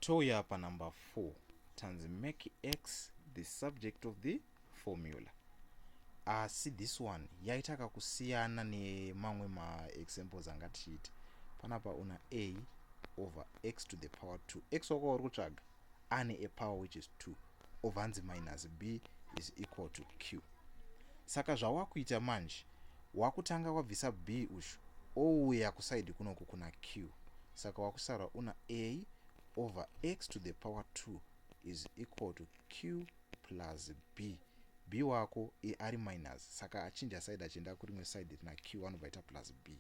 touya panumber 4 tanzi make x the subject of the formula asi ah, this one yaita kakusiyana nemamwe maexamples anga tichiita panapa una a over x to the power 2 x wako uri kutsvaga ane a power which is 2 obva anzi minus b is equal to q saka zvawakuita manje wakutanga wabvisa b uyu ouya kusaidi kunoku kuna q saka wakusara una a over x to the power 2 is equal to q plus b b wako e ari minus saka achinja side achienda kurimwe side rina q anobva aita plus b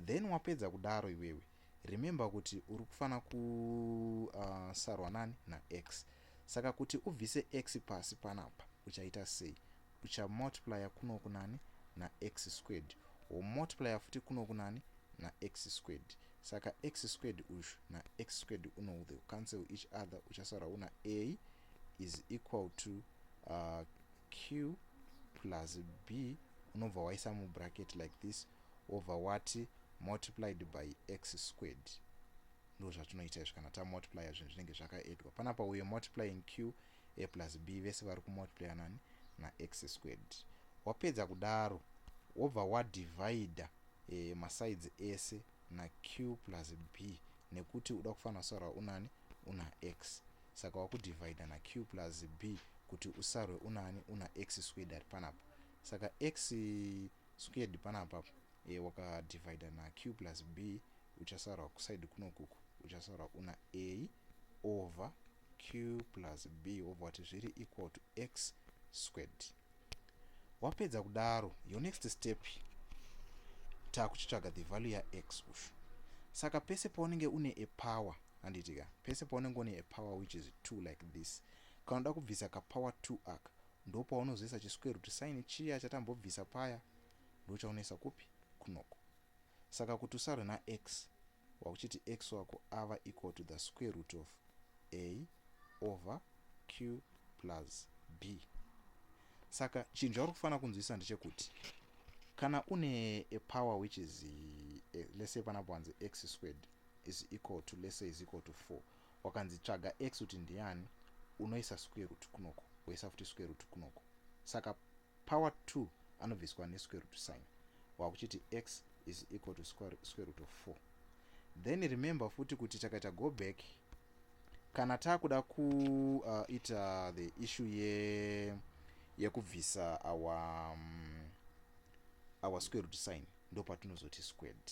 then wapedza kudaro iwewe remember kuti uri kufanira kusarwa uh, nani nax saka kuti ubvise x pasi panapa uchaita sei uchamultiplya kuno kunani nax squared womultiplya futi kuno kunani nax squared saka x squared uyu nax squared uno the cancel each other uchasara una a is equal to uh, q plus b unobva waisa mubracket like this wobva wati multiplied by x squared ndozvatinoita izvi kana tamultiplya zvinhu zvinenge zvakaedwa panapa uye multiplying q a plus b vese vari kumultiplya nani nax squared wapedza kudaro wobva wadivida e, eh, masides ese naq plus b nekuti uda kufanira kusara unani una x Saka waku divider na Q plus B kuti usarwe unani una X squared panapa saka X squared panapa e, waka divider na Q plus B uchasarwa kuside kunokuku uchasarwa una A over Q plus B wobva wati zviri equal to X squared wapedza kudaro your next step takuchitsvaga the value yax ushu saka pese paunenge une a power handitika pese paunenge une a power which is two like this kana uda kubvisa kapower two aka ndo paunozoisa chisquare root sign chiya chatambobvisa paya ndo chaunoisa kupi kunoko saka kuti usarwe nax wakuchiti x wako ava equal to the square root of a over q plus b saka chinhu chauri kufanira kunzwisisa ndechekuti kana une a power which is eh, let's say panapo hanzi x squared is equal to let's say is equal to 4 wakanzi tsvaga x kuti ndiyani unoisa square root kunoko woisa futi square root kunoko saka Power 2 anobviswa ne square root sign wakuchiti x is equal to square root of 4 then remember futi kuti takaita go back kana takuda kuita uh, the issue ye yekubvisa our um, our square root sign ndopatinozoti squared